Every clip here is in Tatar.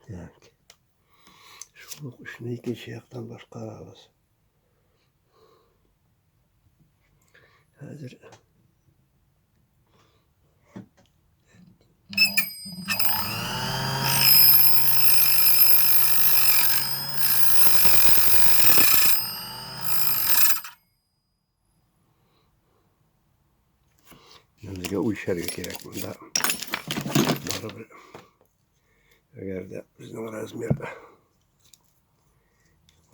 Так. Шул ук эшне икенче яктан башкарабыз. Хәзер Безгә үлчәргә кирәк монда. Барыбер. Әгәр дә безнең размер.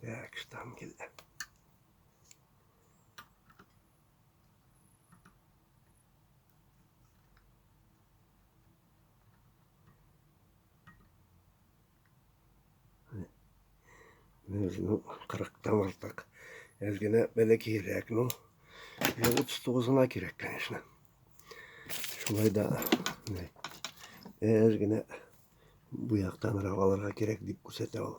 Так, штангель. Без, ну, 40-тан артык. Әз генә бәләкәйрәк, ну, 39-на кирәк, конечно. Шулай да, әз генә бу яктан алырга кирәк дип күрсәтә ул.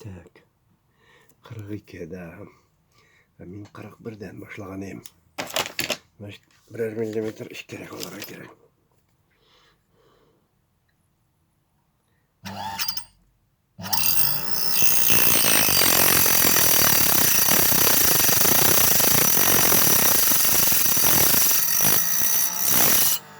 Так. 42, да. А мин 41-дән башлаган идем. Значит, берәр миллиметр эчкәрәк алырга кирәк.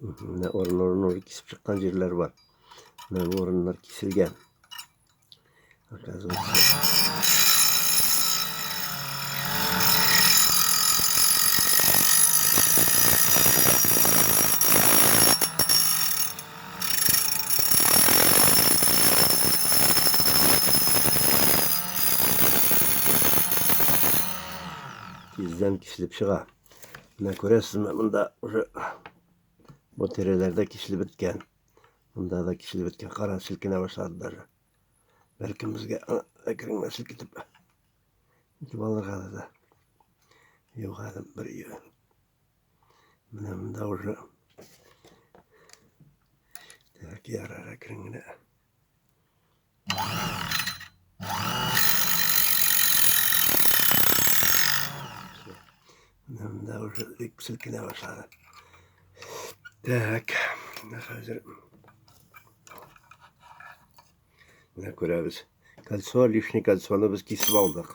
Менә орын-орын уже кисеп чыккан җирләр бар. Менә бу орыннар киселгән. Тиздән киселеп чыга. Менә күрәсезме, монда уже бу тирәләрдә киселеп беткән. Монда да киселеп беткән. Кара селкенә башлады даже. Бәлкем безгә әкрен генә селкетеп итеп алырга да. Юк әле бер ел. Менә монда уже Так, ярар, әкрен генә. Мында уже селкенә башлады. Так, менә хәзер менә күрәбез. Кольцо, лишний кольцоны без кисеп алдык.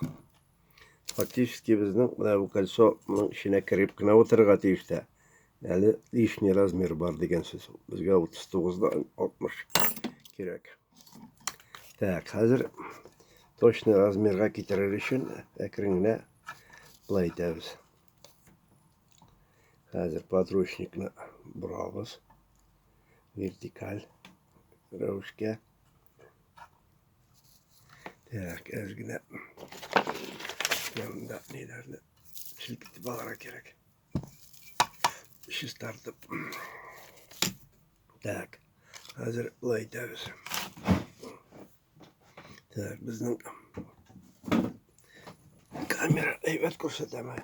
Фактически безнең менә бу кольцоның эченә кереп кенә утырырга тиеш тә. Әле лишний размер бар дигән сүз. Безгә 39-дан 60 кирәк. Так, хәзер точный размерга китерер өчен әкрен генә былай итәбез. Хәзер подручникны борабыз. Вертикаль рәвешкә. Так, әзгенә янында ниләрне селкетеп алырга кирәк. Чистартып. Так, хәзер былай итәбез. Так, безнең камера әйбәт күрсәтәме?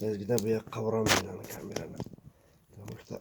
Әзгенә бу якка борамыз камераны. Потому что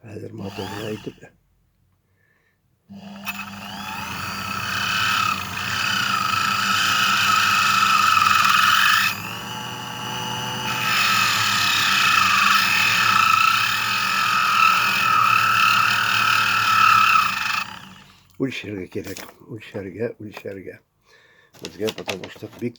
Хәзер моторына итеп. Үлчәргә кирәк. Үлчәргә, үлчәргә. Безгә потому что бик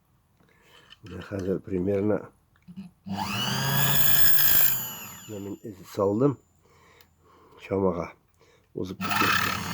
Менә хәзер примерно мин эз салдым чамага узып китте.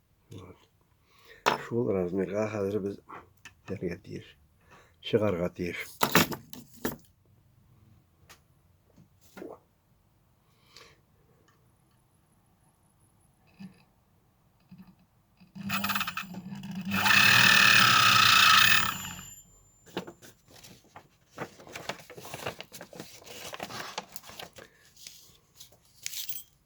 Шул размерга хәзер без итәргә тиеш. Чыгарга тиеш.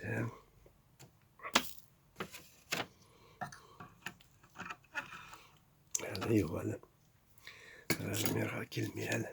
Damn. Әле юк әле. Размерга килми әле.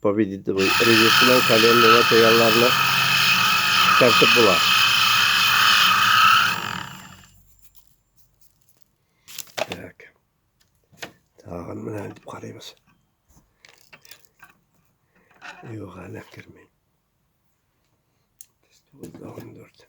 Победитель ревизион коленный материалларны тәртип була. Так. Тагын менә итеп карыйбыз. Юк, әле кермәй. 9 14.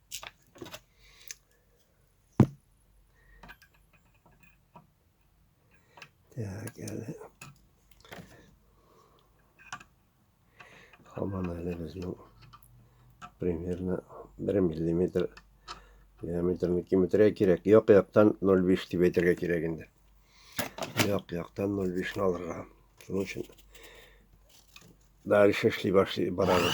Так, але хабана әле безнең примерно 1 миллиметр диаметрны киметергә кирәк. Як яктан 0,5 дип әйтергә кирәк инде. Як яктан 0,5-ны алырга. Шуның өчен дальше эшли башлый барабыз.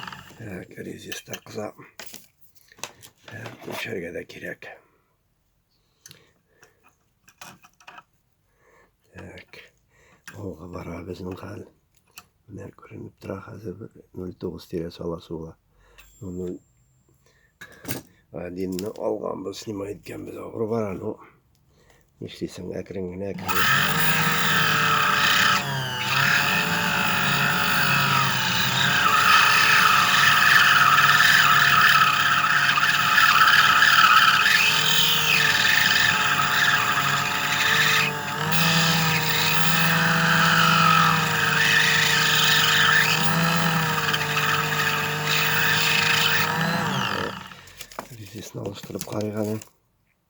Ә, кризис та кыза. Ә, Күчәргә дә кирәк. Так. Алга бара безнең хәл. Менә күренеп тора хәзер 09 тирәсе ала сула. Моны Адинны алганбыз, снимай иткәнбез, авыр бара, ну. Нишлисең, әкрен генә Здесь налаштырып карыйк әле.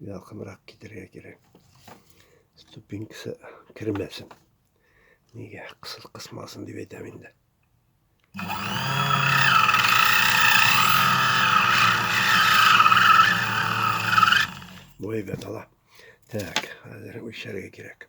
Якынрак китерергә кирәк. Ступенькасы кермәсен. Нигә кысыл кысмасын дип әйтәм инде. Бу әйбәт ала. Так, хәзер үлчәргә кирәк.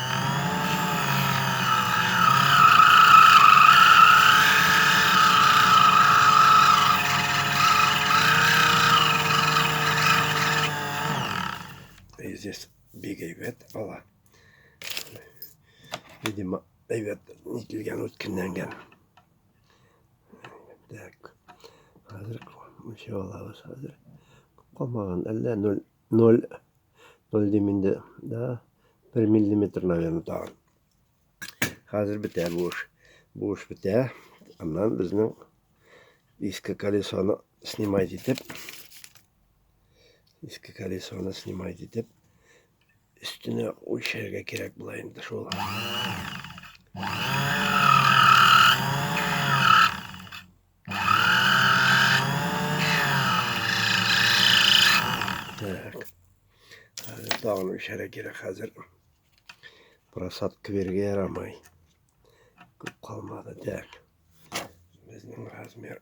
здесь бик әйбәт ала. Видимо, әйбәт нителгән үткенләнгән. Так. Хәзер ничә алабыз хәзер? Калмаган әллә 0 0, 0 дим инде, да, 1 миллиметр, наверное, тагын. Хәзер бетә бу эш. Бу эш бетә. Аннан безнең иске колесоны снимать итеп, иске колесоны снимать итеп, өстенә үлчәргә кирәк була инде шул. Так. Хәзер тагын эчәрә кирәк хәзер. Просадка бергә ярамый. Күп калмады. Так. Безнең размер.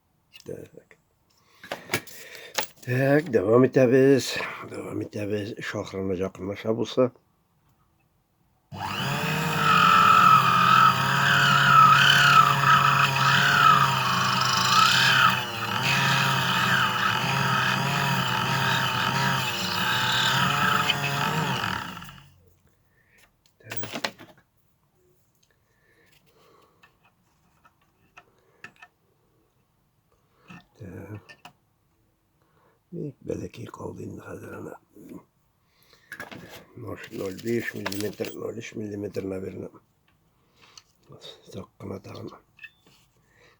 Так. Так, дәвам итәбез. Дәвам итәбез. Шахрына якынлаша булса. Бик бәләкәй калды инде хәзер ана. 0,5 мм, 0,3 мм, наверное. Так кына тагын.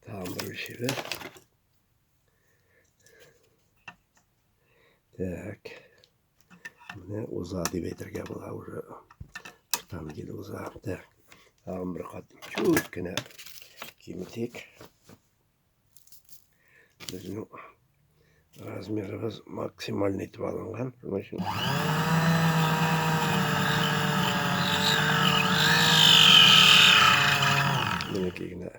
Tamam böyle şeyler. Так. Менә уза дип әйтергә була уже. Штан килде уза. Так. Тагын бер кат чүт кенә киметик. Безнең Размерыбыз максималь итеп алынган. Шуның өчен Минеки генә.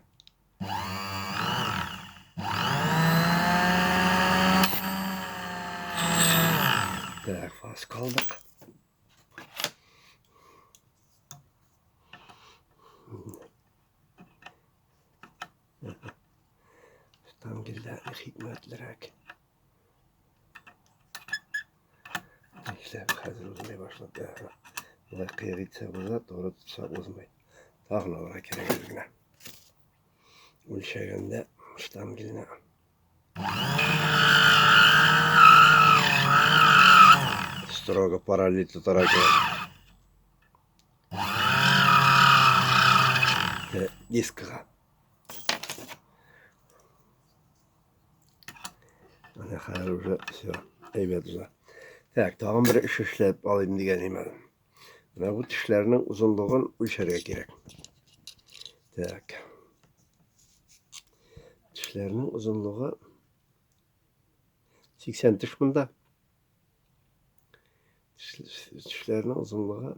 Так, фас калдык. Там гелләрне хикмәтлерәк. Нишләп хәзер узмый башлады. Болай кыйр итсә уза, туры тотса узмый. Тагын алырга кирәк үзенә. Үлчәгәндә штангелне. Строго параллель тотарга кирәк. дискаға Менә хәзер уже все, әйбәт уже. Так, тагын бер эш эшләп алыйм дигән имән. Менә бу тешләрнең озынлыгын үлчәргә кирәк. Так. Тешләрнең озынлыгы 80 теш монда. Тешләрнең озынлыгы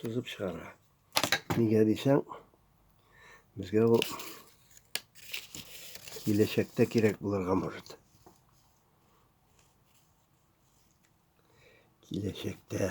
Сузып чыгара. Нигә дисәң, безгә ул киләчәктә кирәк булырга может. Киләчәктә.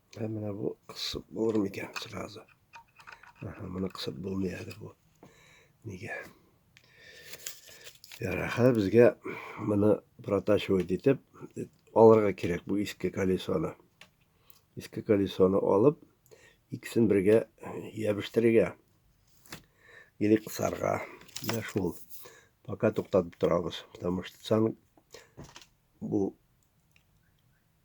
Ә менә бу кысып булыр микән сразу? Аха, моны кысып булмый әле бу. Нигә? Яраха безгә моны протачивать итеп алырга кирәк бу иске колесоны. Иске колесоны алып, икесен бергә ябештергә. Или кысарга. Менә шул. Пока туктатып торабыз, потому что сан бу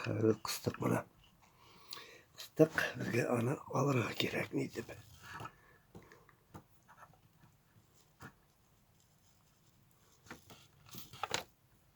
Хәзер кыстык моны. Кыстык, безгә аны алырга кирәк ни дип.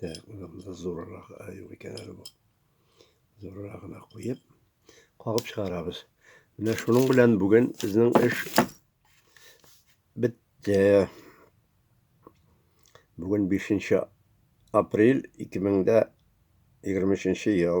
Так, монда зуррак аю икән әле бу. Зуррагына куеп, кагып чыгарабыз. Менә шуның белән бүген безнең эш бетте. Бүген 5 апрель 2023 ел.